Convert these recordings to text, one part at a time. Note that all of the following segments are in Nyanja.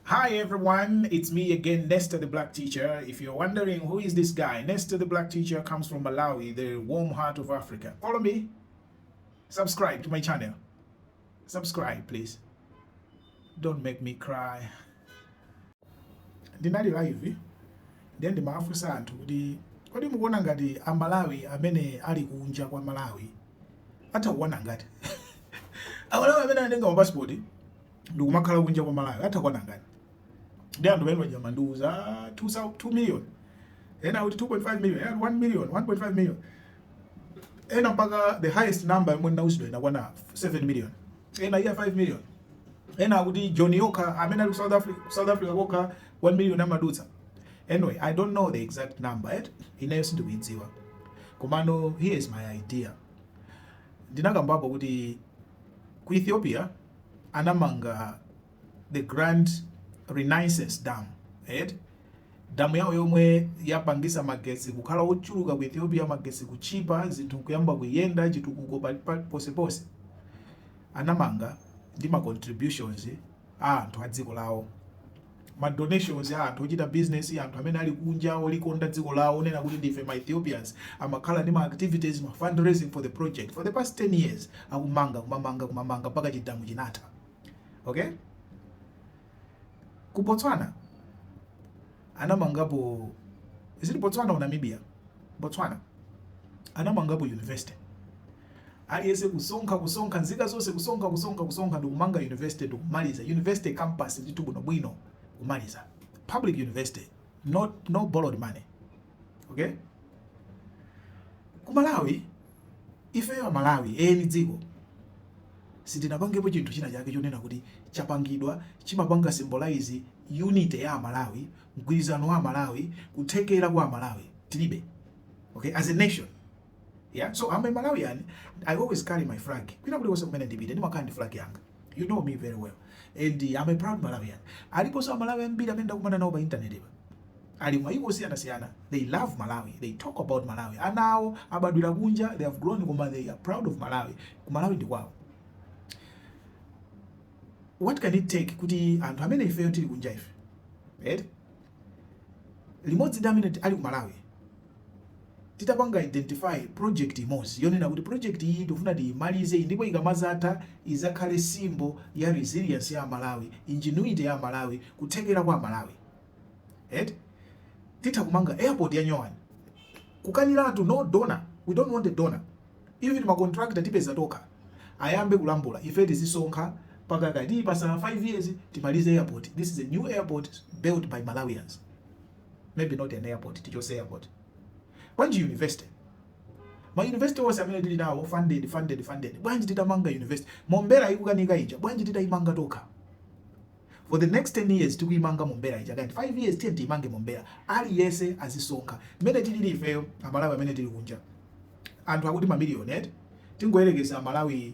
Hi everyone, it's me again, Nestor the Black Teacher. If you're wondering who is this guy, Nestor the Black Teacher comes from Malawi, the warm heart of Africa. Follow me, subscribe to my channel. Subscribe, please. Don't make me cry. Ndinali live, eh? then ndimafunsa anthu kuti kodi mukuona ngati a Malawi amene ali kunja kwa Malawi atha kukwana angati amalawi amene anatenga mapasipoti ndikumakhala kunja kwa Malawi atha kukwana angati ndi anthu pamene paja amandiuza 2 million ena kuti 2.5 million ena 1 million 1.5 million ena mpaka the highest number yomwe ndinauzidwa inakwana 7 million ena iyayi 5 million ena kuti Joni yokha amene ali ku South Africa ku South Africa kokha 1 million amadutsa anyway i don't know the exact number yet ineyo sindikuidziwa komano here is my idea ndinakambapo kuti ku Ethiopia anamanga the grand renaissance dam eti damu yawo yomwe yapangisa magetsi kukhala ochuluka ku ethiopia magetsi kutchipa zinthu kuyamba kuyenda chitukuko pa- pa- ponseponse anamanga ndi ma contributions a anthu a dziko lawo ma donations a anthu ochita business, anthu amene ali kunja olikonda dziko lawo onena kuti ndife ma Ethiopians amakhala ndi ma activities, ma fundraising for the project for the past 10 years akumamanga kumamanga kumamanga mpaka chidamu chinatha. Okay? Ku Botswana anamangapo is it Botswana or Namibia? Botswana anamangapo university Aliyense kusonkha, kusonkha, nzika zonse kusonkha, kusonkha, kusonkha, ndikumanga university ndikumaliza, university campus ndithu bwino bwino kumaliza, public university, no no borrowed money, okay? Ku Malawi, ifeyo a Malawi, eni dziko, sitinapangepo chinthu china chake chonena kuti chapangidwa chimapanga symbolize unity ya Amalawi, mgwirizano wa Amalawi, kuthekera kwa Amalawi, tilibe, okay, as a nation. Yeah, so I'm a Malawian. I always carry my flag. Kwina kulikonse kumene ndipite ndimakhala ndi flag yanga. You know me very well. And uh, I'm a proud Malawian. Aliponso Amalawi ambiri amene ndakumana nawo pa internet pa. Ali m'maiko osiyanasiyana. They love Malawi. They talk about Malawi. Ana awo abadwira kunja, they have grown koma they are proud of Malawi. Ku Malawi ndi kwawo. What can it take kuti anthu amene ifeyo tili kunja ife? Right? Limodzi ndi amene ali ku Malawi titapanga identify project imodzi yonena kuti project iyi tikufuna tiyimalize iyi ndipo ikamazatha izakhale symbol ya resilience ya amalawi ingenuity ya amalawi kuthekera kwa amalawi eti titha kumanga airport ya nyowani kukaniratu no donor we don't want a donor even ma contractor tipeza tokha ayambe kulambula ife tizisonkha pakamati patha 5 years timalize airport this is a new airport built by malawians maybe not an airport tichose airport bwanji university ma university onse amene tili nawo funded funded funded bwanji titamanga university mombera ikukanika ija bwanji titaimanga tokha for the next 10 years tikuimanga mombera ija kanti 5 years tiye tiimange mombera aliyense azisonkha mmene tilili ifeyo amalawi amene tili kunja anthu akuti mamiliyoni eti tingoyerekeza amalawi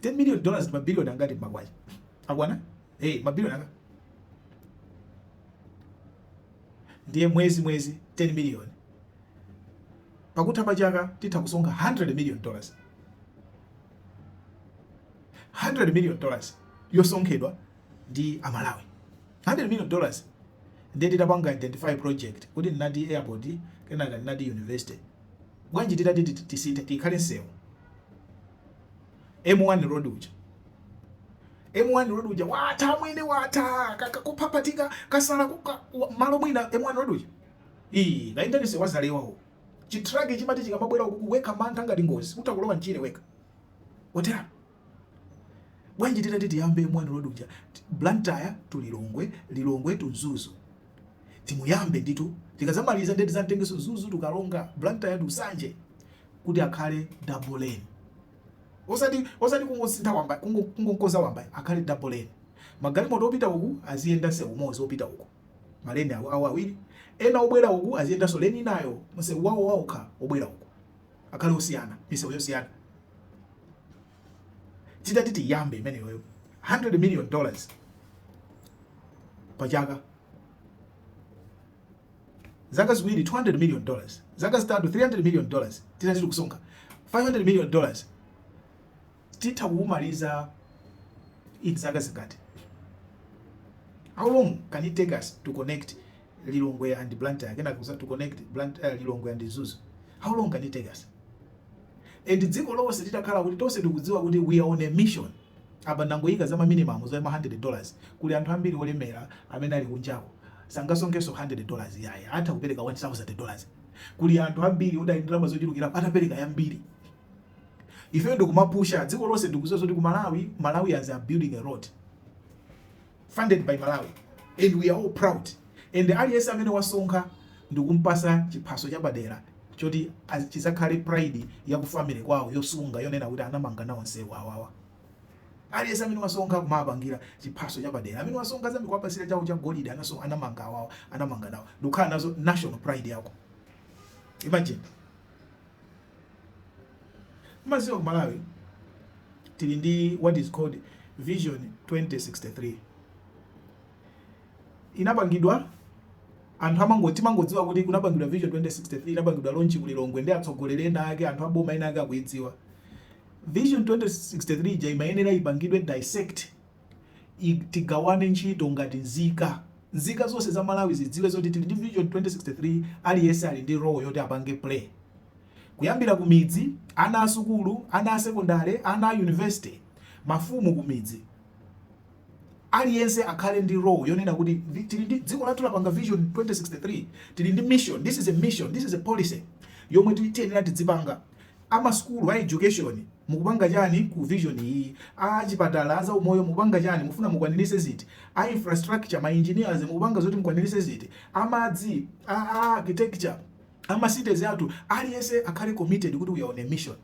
10 million dollars ndi mabiliyoni angati m'makwacha akwana hey, mabiliyoni angapo ndiye mwezi mwezi 10 miliyoni pakutha pa chaka titha kusonkha 100 million dollars 100 million dollars yosonkhedwa ndi amalawi 100 million dollars ndiye titapanga identify project kuti ndinati airport kenaka ndinati university bwanji titati tisinthe ikhale msewu M1 road uja M1 road uja watha amwene watha kakuphaphatika kasala m'malo mwina M1 road uja ii kaendani za ku Zalewa ko chitraki chimati chikamabwera ukugwidwa mantha ngati ngozi utha kulowa mchire wekha otera Bwanji titati tiyambe M1 road uja Blantyre to Lilongwe, Lilongwe to Mzuzu timuyambe nditu tikazamaliza nde tizamtengenso Mzuzu to Karonga, Blantyre to Nsanje kuti akhale double lane osati osati kungosintha wamba kungomkonza wamba akhale double lane magalimoto opita uku aziyenda nsewu umozi opita uku maleni awo awo awiri ena obwera uku aziyendanso leni inayo msewu wawo waokha obwera uku akhale osiyana misewu yosiyana titati tiyambe imeneyoyo 100 million dollars pachaka zaka ziwiri 200 million dollars zaka zitatu 300 million dollars titati tikusonkha 500 million dollars titha kuumaliza in zaka zingati how long can it take us to connect Lilongwe and Blantyre kenaka uzati to connect Blantyre, Lilongwe and Mzuzu how long can it take us? And dziko lonse titakhala kuti tonse tikudziwa kuti we are on a mission apa ndangoyika za ma minimum za ma hundred dollars kuli anthu ambiri olemera amene ali kunjako sangasonkhenso hundred dollars ayi atha kupereka one thousand dollars kuli anthu ambiri oti ali ndi ndalama zochulukira atapereka yambiri ifeyo ndikumapusha dziko lonse ndikuziwa zoti ku Malawi Malawians are building a road funded by Malawi and we are all proud and aliyense amene wasonkha ndikumpasa chiphaso chapadera choti chizakhale pride ya ku family kwawo yosunga yonena kuti anamanga nawo nsewu awawa aliyense amene wasonkha kumapangira chiphaso chapadera amene wasonkha zambiri kuwapasira chawo cha golide anamanga awawa anamanga nawo ndikukhala nazo national pride yako imagine Mumadziwa ku Malawi tili ndi what is called vision 2063 inapangidwa anthu amango timangodziwa kuti kunapangidwa vision 2063 inapangidwa launch ku Lilongwe ndi atsogoleri ena ake anthu aboma ena ake akuidziwa vision 2063 ija imayenera ipangidwe dissect i. Tigawane ntchito ngati nzika. Nzika zonse za Malawi zidziwe zoti tili ndi Vision 2063 aliyense ali ndi role yoti apange play. Kuyambira ku midzi, ana a sukulu, ana a sekondale, ana a university, mafumu ku midzi. Aliyense akhale ndi role yonena kuti tili ndi dziko lathu lapanga Vision 2063, tili ndi mission, this is a mission, this is a policy yomwe tiyenera tidzipanga. Amasukulu a education mukupanga chani ku vision iyi? A chipatala a zaumoyo mukupanga chani mufuna mukwanilise ziti? A infrastructure ma engineers mukupanga zoti mukwanilise ziti? A madzi a architecture a ma cities athu aliyense akhale committed kuti we are on a mission.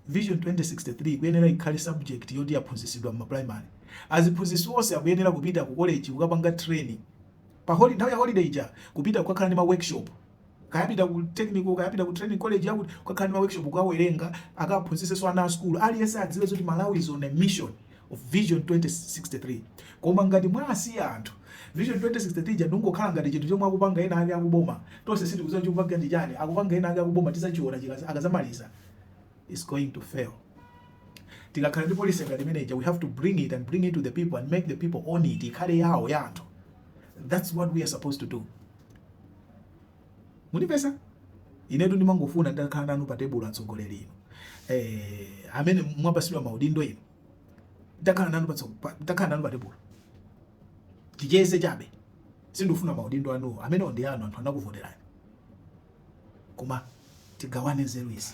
Vision 2063 ikuyenera ikhale subject yoti yaphunzisidwa mma primary. Aziphunzisi onse akuyenera kupita ku college kukapanga train pa holi nthawi ya holiday ija kupita kukakhala ndi ma workshop kaya apita ku technical, kaya apita ku training college yakuti kukakhala ndi ma workshop, kukawerenga, akaphunzitsenso ana a sukulu. Aliyense adziwe zoti Malawi is on a mission of Vision 2063. Koma ngati mwasiya anthu, Vision 2063 ija ndikungokhala ngati chinthu chomwe akupanga ena ake akuboma, tonse sitikudziwa chikupangika ndi chani, akupanga ena ake akuboma tizachiona chikaza, akazamaliza, it's going to fail. Tikakhala ndi policy ngati imene ija, we have to bring it and bring it to the people and make the people own it, ikhale yawo ya anthu. That's what we are supposed to do. Mundimvetsa? Inetu ndimangofuna nditakhala nanu pa tebulo atsogoleri inu. amene mwapasidwa maudindo inu. Nditakhala nanu pa nditakhala nanu pa tebulo. Ticheze chabe. Sindufuna maudindo anu amene ndi anu anthu anakuvoterani. Koma tigawane nzeru izi.